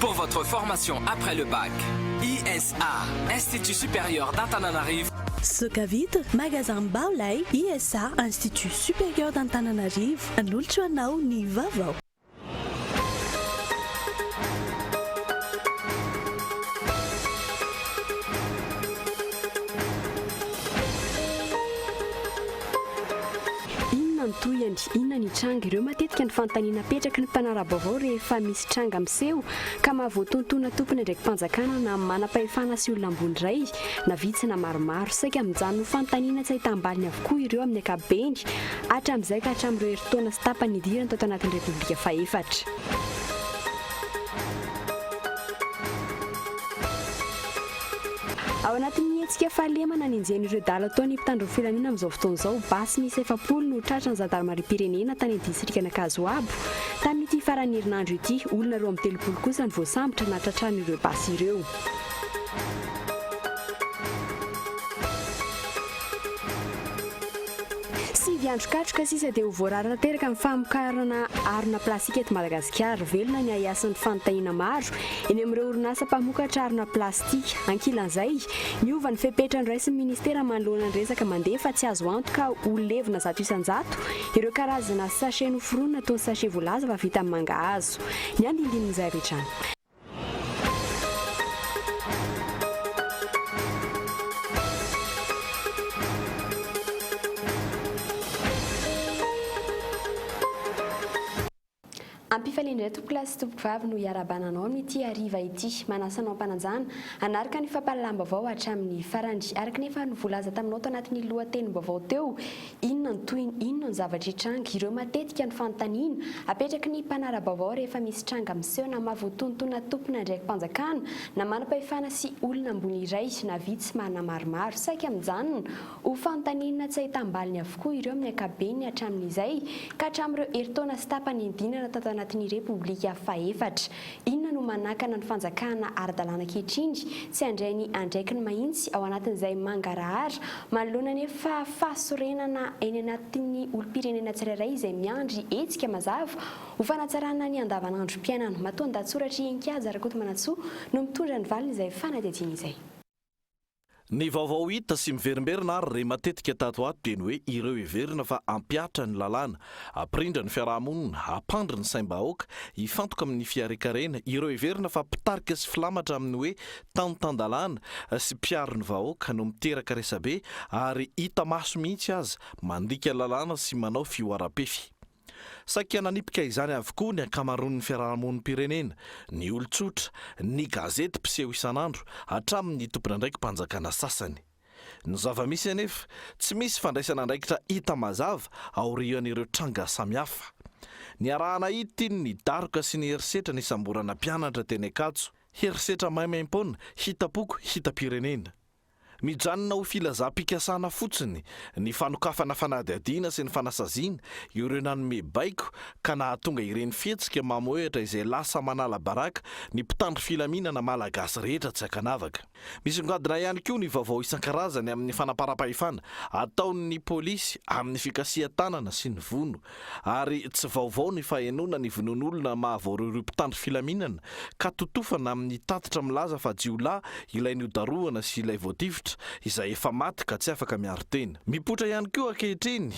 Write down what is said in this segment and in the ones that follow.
Pour votre formation après le bac, ISA, Institut Supérieur d'Antananarivo, Zoka Vitre, Magasin Mbao lay, ISA, Institut Supérieur d'Antananarivo, hanolotra anao ny vaovao. Inona ny tohiny? Inona ny hitranga? Ireo matetika ny fanontaniana apetraky ny mpanara-baovao rehefa misy tranga miseho ka mahavoatoantoana tompon'andraiki-panjakana na manam-pahefana sy olona ambony iray na vitsy na maromaro. Saika mijanona ho fanontaniana tsy ahitam-baliny avokoa ireo amin'ny ankapobeny hatramin'izay ka hatramin'ireo herintaona sy tapany nidirany tato anatin'ny Repoblika fahefatra. Ao anatin'ny hetsika fahalemana nenjehin'ny ireo dala ataon' ny mpitandro ny filaminana amin'izao fotoana izao, basy miisa efapolo no tratran'ny zandarimariam-pirenena tany distrikan'Ankazoabo tamin'ity faran'ny herinandro ity. Olona roa amby telopolo kosa no voasambotra na tratran'ireo basy ireo. Sivy andro katroka sisa dia ho voarara tanteraka ny famokarana harona plastika eto Madagasikara. Velona ny ahiasan'ny fanontahiana maro eny amin'ireo orinasa mpamokatra harona plastika. Ankilan'izay, miova ny fepetra noraisin'ny minisitera manoloana ny resaka mandeha fa tsy azo antoka ho levona zato isan-jato ireo karazana sachet noforonina toa ny sachet voalaza fa vita amin'ny mangahazo. Ny andindinin'izay avy hatrany. Ampifaliandray tompokolahy sy tompokovavy no iarahabana anao amin'ity hariva ity. Manasa anao am-panajana hanaraka ny fampahalalam-baovao hatramin'ny farany. Araka ny efa novolaza taminao tao anatin'ny lohatenim-baovao teo, Inona ny tohiny? Inona ny zavatra hitranga? Ireo matetika ny fanontaniana apetraky ny mpanara-baovao rehefa misy tranga miseho na mahavoatoantona tompon'andraiki-panjakana na manam-pahefana sy olona ambony iray na vitsy maro na maromaro. Saika mijanona ho fanontaniana tsy ahitam-baliny avokoa ireo amin'ny ankabeny hatramin'izay ka hatramin'ireo herintaona sy tapany niandinana tato anatin'ny Repoblika fahefatra. Inona no manakana ny fanjakana ara-dalàna ankehitriny tsy handray ny andraikiny mahintsy ao anatin'izay mangarahara manoloana ny efa fahasorenana eny anatin'ny olom-pirenena tsirairay izay miandry hetsika mazava ho fanatsarana ny andavanandrom-piainana. Matoandahatsoratry Enkihaja Rakotomanantsoa no mitondra ny valin'izay fanadihadiana izay. Ny vaovao hita sy miverimberina ary re matetika tato ho ato dia ny hoe ireo heverina fa hampihatra ny lalàna, hampirindra ny fiaraha-monina, hampandry ny saim-bahoaka, hifantoka amin'ny fiharekarena, ireo heverina fa mpitarika sy filamatra amin'ny hoe tany tan-dalàna sy mpiaro ny vahoaka no miteraka resabe ary hita maso mihitsy aza mandika lalàna sy manao fihoaram-pefy. Saika nanipika izany avokoa ny ankamaroan'ny fiarahamonim-pirenena, ny olon-tsotra, ny gazety mpiseho isan'andro, hatramin'ny tompon'andraiki-panjakana sasany. Ny zava-misy anefa, tsy misy fandraisana andraikitra hita mazava aorian'ireo tranga samihafa. Niaraha-nahity ny daroka sy ny herisetra nisamborana mpianatra teny Ankatso, herisetra maimaim-poana, hita-poko, hita-pirenena. Mijanona ho filazam-pikasana fotsiny ny fanokafana fanadihadiana sy ny fanasaziana ireo nanome baiko ka nahatonga ireny fihetsika mamohehatra izay lasa manala baraka ny mpitandro filaminana malagasy rehetra tsy ankanavaka. Misongadina ihany koa ny vaovao isan-karazany amin'ny fanamparam-pahefana ataon'ny polisy amin'ny fikasihan-tanana sy ny vono Ary tsy vaovao ny fahenoana ny vonoan'olona mahavoaroy ireo mpitandro filaminana ka totofana amin'ny tatitra milaza fa jiolahy ilay nodarohana sy ilay voatifitra izay efa maty ka tsy afaka miaro tena. Mipoitra ihany koa ankehitriny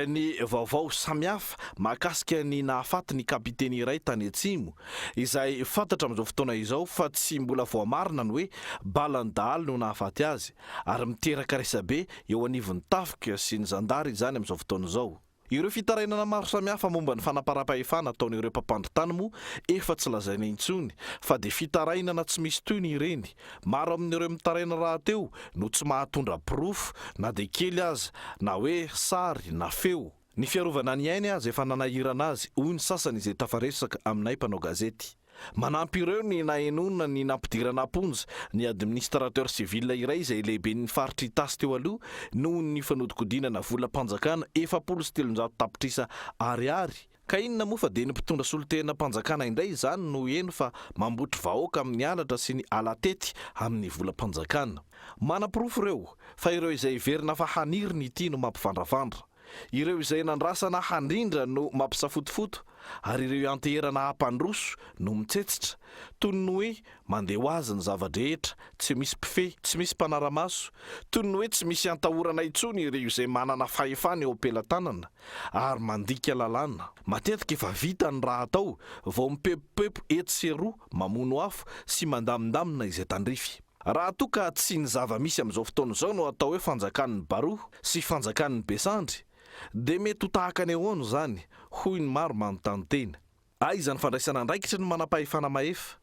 ny vaovao samihafa mahakasika ny nahafaty ny kapiteny iray tany Atsimo, izay fantatra amin'izao fotoana izao fa tsy mbola voamarina ny hoe balan'ny dahalo no nahafaty azy, ary miteraka resabe eo anivon'ny tafika sy ny zandary izany amin'izao fotoana izao. Ireo fitarainana maro samihafa momba ny fanamparam-pahefana ataon'ireo mpampandry tany moa efa tsy lazaina intsony fa dia fitarainana tsy misy tohiny ireny. Maro amin'ireo mitaraina rahateo no tsy mahatondra porofo na dia kely aza na hoe sary na feo. Ny fiarovana ny ainy aza efa nanahirana azy, hoy ny sasany izay tafaresaka aminay mpanao gazety. Manampy ireo ny nahenoana ny nampidirana am-ponja ny administrateur civil iray izay lehiben'ny faritry Itasy teo aloha noho ny fanodinkodinana volam-panjakana efapolo sy telonjato tapitrisa Ariary, ka inona moa fa dia ny mpitondra solontenam-panjakana indray izany no heno fa mambotry vahoaka amin'ny halatra sy ny ala-tety amin'ny volam-panjakana. Manaporofo ireo fa ireo izay heverina fa haniriny ity no mampivandravandra. Ireo izay nandrasana handrindra no mampisafotofoto ary ireo ianteherana hampandroso no mitsetsitra, toy ny hoe mandeha ho azy ny zava-drehetra, tsy misy mpifehy, tsy misy mpanara-maso, toy ny hoe tsy misy iantahorana intsony ireo izay manana fahefana eo am-pelatanana ary mandika lalàna. Matetika efa vita ny raha atao vao mipepopepo etsy sy eroa, mamono afo sy mandamindamina izay tandrify. Raha toa ka tsy ny zava-misy amin'izao fotoana izao no atao hoe fanjakan'ny baroa sy fanjakan'ny besandry dia mety ho tahaka ny ahoana izany hoy ny maro manontany tena. Aiza ny fandraisana andraikitry ny manampahefana mahefa?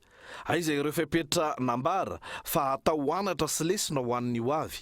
Aiza ireo fepetra nambara fa hatao ho anatra sy lesona ho an'ny ho avy?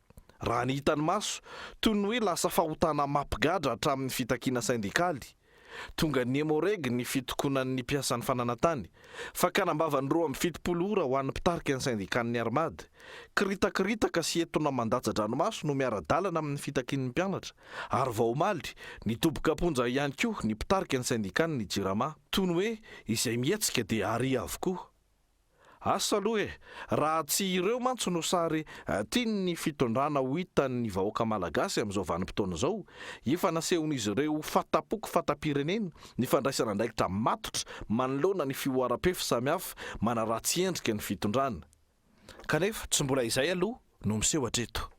Raha ny hitan'ny maso, toy ny hoe lasa fahotana mampigadra hatramin'ny fitakiana sendikaly, tonga nihemoregy ny fitokonan'ny mpiasan'ny fananantany, fakana am-bavany roa amby fitopolo ora ho an'ny mpitarika ny sendikan'ny Armad, kiritakiritaka sy etona mandatsa-dranomaso no miara-dalana amin'ny fitakian'ny mpianatra, ary vao omaly, nidoboka am-ponja ihany koa ny mpitarika ny sendikan'ny Jirama. Toy ny hoe izay mihetsika dia àry avokoa. Asa aloha e! Raha tsy ireo mantsy no sary tian'ny fitondrana ho hitan'ny vahoaka malagasy amin'izao vanim-potoana izao, efa nasehon'izy ireo fahatampoko fahatapirenena ny fandraisana andraikitra matotra manoloana ny fihoaram-pefy samihafa manaratsy endrika ny fitondrana. Kanefa tsy mbola izay aloha no miseho hatreto.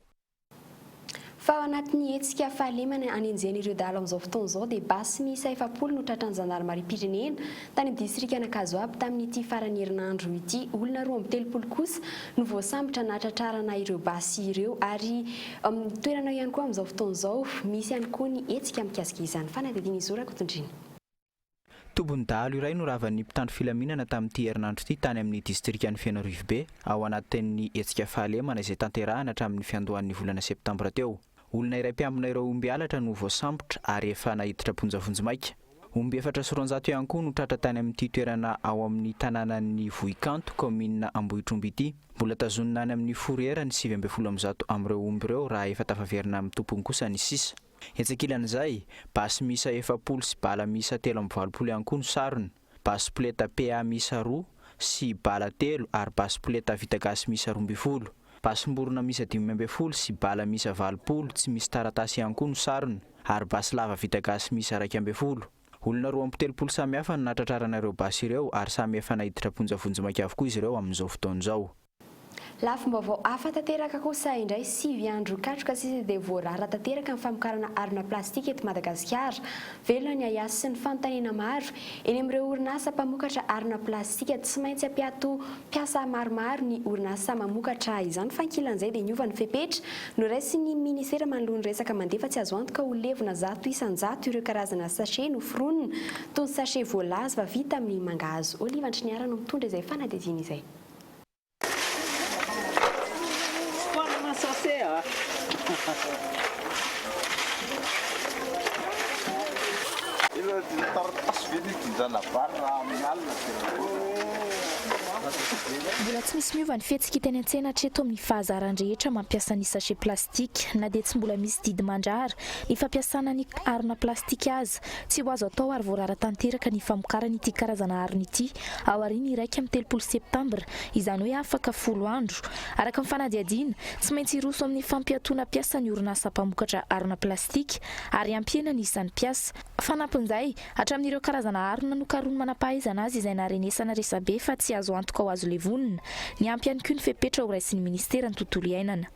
Fa ao anatin'ny hetsika fahalemana hanenjehana ireo dahalo amin'izao fotoana izao dia basy miisa efapolo no tratran'ny zandarimariam-pirenena tany amin'ny distrikan'Ankazoabo tamin'ity faran'ny herinandro ity. Olona roa amby telopolo kosa no voasambotra nahatratrarana ireo basy ireo ary amin'ny toerana eo ihany koa amin'izao fotoana izao misy ihany koa ny hetsika mikasika izany. Fanadihadiana izao Rakotontrina. Tombon-dahalo iray no ravan'ny mpitandro filaminana tamin'ity herinandro ity tany amin'ny distrikan'i Feno Rivobe ao anatin'ny hetsika fahalemana izay tanterahana hatramin'ny fiandohan'ny volana septambra teo. Olona iray mpiambina ireo omby halatra no voasambotra ary efa naiditra am-ponja vonjimaika. Omby efatra sy roanjato ihany koa no tratra tany amin'ity toerana ao amin'ny tanànan'i Vohikanto, kaominina Ambohitromby ity. Mbola tazonina any amin'ny Fourrière ny sivy ambin'ny folo amin'ny zato amin'ireo omby ireo raha efa tafaverina amin'ny tompony kosa ny sisa. Etsy ankilan'izay, basy miisa efapolo sy bala miisa telo amby valopolo ihany koa no sarona, basy poleta PA miisa roa sy bala telo ary basy poleta vita gasy miisa roa ambin'ny folo. Basim-borona miisa dimy ambin'ny folo sy bala miisa valopolo tsy misy taratasy ihany koa no sarona ary basy lava vita gasy miisa iraika ambin'ny folo. Olona roa amby telopolo samihafa no nahatratrarana ireo basy ireo ary samy efa naiditra am-ponja vonjimaika avokoa izy ireo amin'izao fotoana izao. Lafim-baovao hafa tanteraka kosa indray, sivy andro katroka sisa dia voarara tanteraka ny famokarana harona plastika eto Madagasikara. Velona ny ahiahy sy ny fanontaniana maro eny amin'ireo orinasa mpamokatra harona plastika. Tsy maintsy hampiato mpiasa maromaro ny orinasa mamokatra izany fa ankilan'izay dia niova ny fepetra noraisin'ny minisitera manoloa ny resaka mandefa tsy azo antoka ho levona zato isan-jato ireo karazana sachet noforonina toy ny sachet voalaza fa vita amin'ny mangahazo. Olive Andriniarano mitondra izay fanadihadiana izay. Mbola tsy misy miova ny fihetsika teny an-tsena hatreto amin'ny fahazarany rehetra mampiasa ny sachet plastique. Na dia tsy mbola misy didy mandrara ny fampiasana ny harona plastika aza, Tsy ho azo atao ary voarara tanteraka ny famokarana ity karazana harona ity aorian'ny iraika amby telopolo septambra, izany hoe afaka folo andro. Araka ny fanadihadiana, tsy maintsy hiroso amin'ny fampiatoana mpiasa ny orinasa mpamokatra harona plastika ary hampihena ny isan'ny mpiasa. Fanampin'izay, hatramin'ireo karazana harona nokarohin'ny manam-pahaizana azy izay naharenesana resabe fa tsy azo antoka ho azo levonina, niampy ihany koa ny fepetra horaisin'ny Ministeran'ny Tontolo Iainana.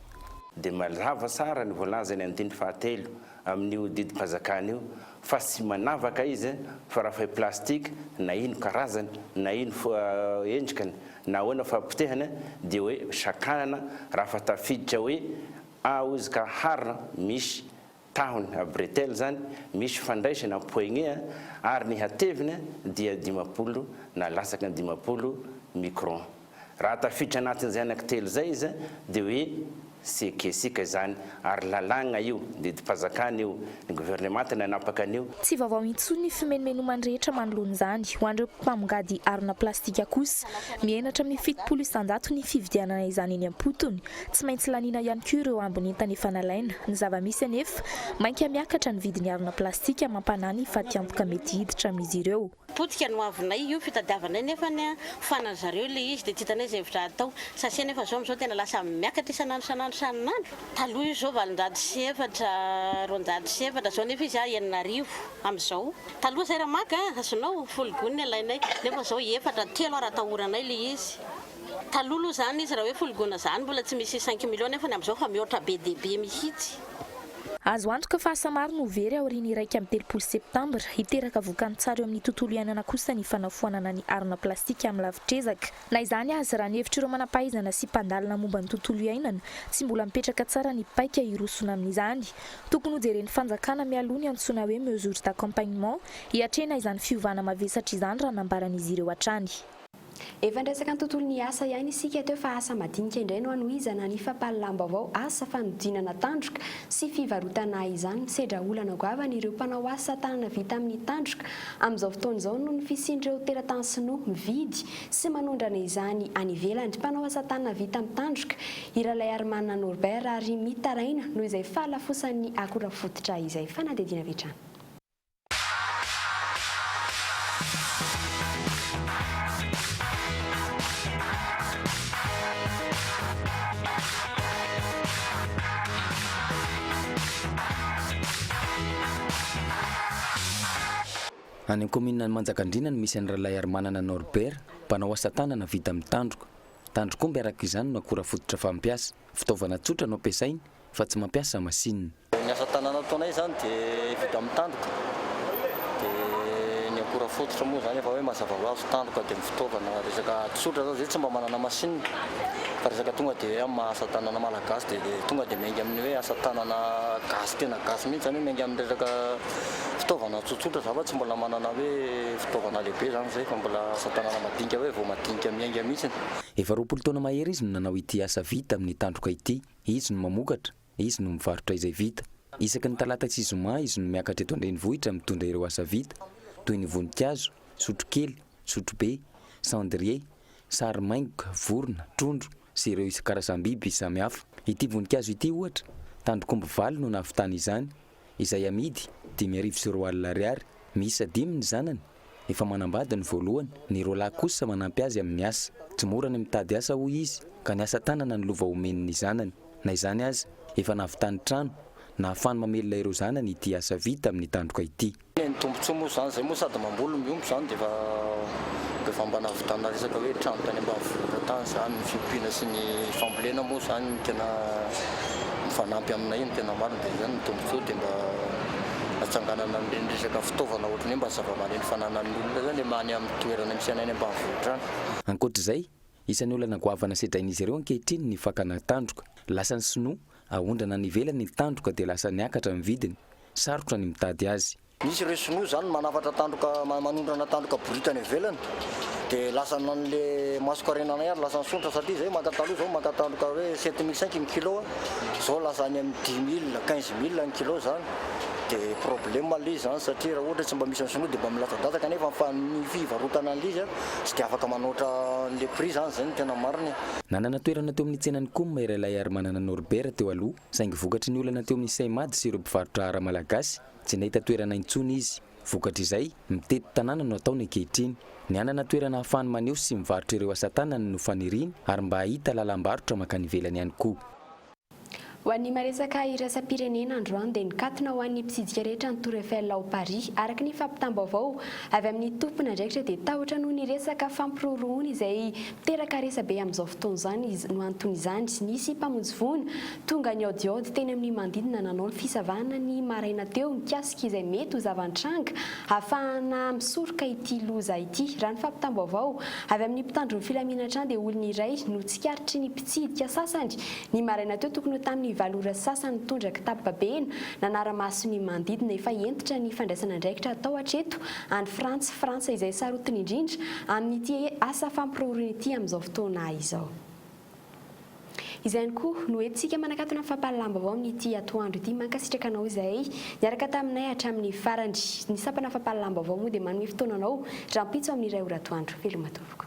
Dia mazava tsara ny voalazan'ny andininy fahatelo amin'io didim-panjakana io fa tsy manavaka izy fa raha fay plastique na ino karazany na ino endrikany na ahoana fahapotehana dia hoe sakanana raha fa tafiditra hoe a ozy ka harona misy tahony a bretelle zany misy fandraisana poignée a ary ny hatevina dia dimampolo na latsaky ny dimampolo micron. Raha tafiditra anatin'izay anankitelo izay izy dia hoe sekesika izany ary lalàgna io, didim-pazakana io, ny governemanta no hanapaka an'io. Tsy vaovao intsony ny fimenomenoman'ny rehetra manoloana izany. Ho an'ireo mpamongady harona plastika kosa, mihenatra amin'ny fitopolo isanjato ny fividianana izany eny am-potony. Tsy maintsy laniana ihany koa ireo ambin'entana efa nalaina. Ny zava-misy anefa, mainka miakatra ny vidin'ny harona plastika mampanahy ny fatiantoka mety hiditra amin'izy ireo. Potika ny hoavinay io fitadiavanay nefa ny fanany zareo ilay izy dia tsy hitanay izay hevitra hatao. Sase nefa izao amin'izao tena lasa miakatra isan'andro isan'andro isan'andro. Taloha izy izao valonjato sy efatra, roanjato sy efatra, izao nefa izy enina arivo amin'izao. Taloha izay raha maka azonao folo gony ny alainay nefa izao efatra, telo ary atahoranay ilay izy. Taloha aloha zany izy raha hoe foligona zany mbola tsy misy cinq millions nefany amzao fa mihoatra be dia be mihitsy. Azo antoka fa asa maro no ho very aorian'ny iraika amby telopolo septambra. Hiteraka vokany tsara eo amin'ny tontolo iainana kosa ny fanafoanana ny harona plastika amin'ny lavitr'ezaka. Na izany aza, raha ny hevitr'ireo manam-pahaizana sy mpandalina momba ny tontolo iainana, tsy mbola mipetraka tsara ny paika hirosona amin'izany. Tokony hojeren'ny fanjakana mialoha ny antsoina hoe mesures d'accompagnement hiatrehina izany fiovana mavesatra izany raha nambaran'izy ireo hatrany. Efa niresaka ny tontolon'ny asa ihany isika teo fa asa madinika indray no hanohizana ny fampahalalam-baovao asa fanodinana tandroka sy fivarotana izany. Misedra olana goavana ireo mpanao asa tanana vita amin'ny tandroka amin'izao fotoana izao noho ny fisian'ireo teratany sinoa mividy sy manondrana izany any ivelany. Mpanao asa tanana vita amin'ny tandroka i Ralaiarimanana Norbert ary mitaraina noho izay fahalafosan'ny akora fototra izay fanadihadiana avy hatrany. Any amin'ny kaominina Manjakandriana no misy an'i Ralaiarimanana Norbert, mpanao asa tanana vita amin'ny tandroka. Tandrokomby araka izany no akora fototra fampiasa. Fitaovana tsotra no ampiasainy fa tsy mampiasa masinina. Ny asa tanana ataonay izany dia vita amin'ny tandroka, dia ny akora fototra moa izany efa hoe mazava ho azy, tandroka dia ny fitaovana, resaka tsotra izao izay tsy mba manana masinina, fa resaka tonga dia hoe amin'ny maha asa tanana malagasy dia tonga dia miainga amin'ny hoe asa tanana gasy tena gasy mihintsy, izany hoe miainga amin'ny resaka fitaovana tsotsotra za fa tsy mbola manana hoe fitaovana lehibe izany izay fa mbola asa tanana madinika hoe vao madinika miainga mihintsy. Efa roapolo taona mahery izy no nanao ity asa vita amin'ny tandroka ity. Izy no mamokatra, izy no mivarotra izay vita. Isaky ny talata sy zoma izy no miakatra eto an-drenivohitra mitondra ireo asa vita, toy ny voninkazo, sotrokely, sotrobe, cendrier, sary maingoka, vorona, trondro sy ireo isan-karazam-biby samihafa. Ity voninkazo ity, ohatra, tandrok'omby valo no nahavitany izany, izay amidy dimy arivo sy roa alina ariary, miisa dimy ny zanany, efa manambady ny voalohany, ny roa lahy kosa manampy azy amin'ny asa. Tsy mora ny mitady asa hoy izy ka ny asa tanana no lova omeny ny zanany. Na izany aza, efa nahavitany trano, nahafahany mamelona ireo zanany ity asa vita amin'ny tandroka ity. Ny tombotsoa moa zany zay moa sady mamboly no miompy zany de efa de efa mba nahavitana resaka hoe trano tany ambanivohitra tany zany ny fiompiana sy ny fambolena moa zany no tena mifanampy aminay no tena marina de zany ny tombotsoa de mba atsanganana an'ireny resaka fitaovana ohatran'ny hoe mba zavamaneno fananan'ny olona zany le any amin'ny toerana misy anay any ambanivohitra any. Ankoatr'izay, isan'ny olana goavana sedrain'izy ireo ankehitriny ny fakana tandroka. Lasan'ny sinoa Aondrana any ivelany ny tandroka dia lasa niakatra ny vidiny, sarotra ny mitady azy. Misy ireo sinoa izany manafatra tandroka, manondrana tandroka borita any ivelany dia lasa nanle masokarenanay ary lasa nisondrotra satria izay maka taloha izao maka tandroka hoe sept mille cinq ny kilo izao lasa any amin'ny dix mille, quinze mille ny kilo izany dia problème aloha izy izany satria raha ohatra hoe tsy mba misy ny sinoa dia mba milatsadatsaka nefa ny fivarotana an'ilay izy tsy dia afaka manoatra an'ilay prix izany izay no tena marina e! Nanana toerana teo amin'ny tsenan'ny Coum iray lahy Harimanana Norbert teo aloha, saingy vokatry ny olana teo amin'ny Seimad sy ireo mpivarotra ara malagasy, tsy nahita toerana intsony izy. Vokatr'izay, mitety tanàna no ataony ankehitriny. Ny hanana toerana ahafahany maneho sy mivarotra ireo asa tanany no faniriany ary mba hahita lalam-barotra mankany ivelany ihany koa. Ho an'ny maresaka iraisam-pirenena androany dia nikatona ho an'ny mpitsidika rehetra ny Tour Eiffel ao Paris. Araka ny fampitam-baovao avy amin'ny tompon'andraikitra dia tahotra noho ny resaka fampirorohona izay miteraka resabe amin'izao fotoana izany izy. No anton'izany, nisy mpamonjy voina tonga nihaodihaody teny amin'ny manodidina nanao ny fisavana ny maraina teo mikasika izay mety ho zava-nitranga hahafahana misoroka ity loza ity. Raha ny fampitam-baovao avy amin'ny mpitandro ny filaminana hatrany dia olona iray no tsikaritry ny mpitsidika sasany Ny maraina teo tokony ho tamin'ny valo ora sasa nitondra kitapo babena nanara-maso ny manodidina efa hentitra ny fandraisana andraikitra atao hatreto any Frantsa, Frantsa izay sarotiny indrindra amin'ity asa fampiroroana ity amin'izao fotoana izao. Izay ihany koa no entintsika manakatona ny fampahalalam-baovao amin'ity atoandro ity. Mankasitraka anao izay niaraka taminay hatramin'ny farany. Ny sampana fampahalalam-baovao moa dia manome fotoana anao rahampitso amin'ny iray ora atoandro. Veloma tompoko.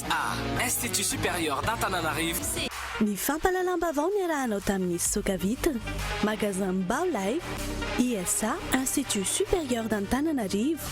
A, Institut Supérieur d'Antananarivo. Ny fampahalalam-baovao niarahanao tamin'ny Soka Vitre, Magasin Mbao Lay, ISA, Institut Supérieur d'Antananarivo.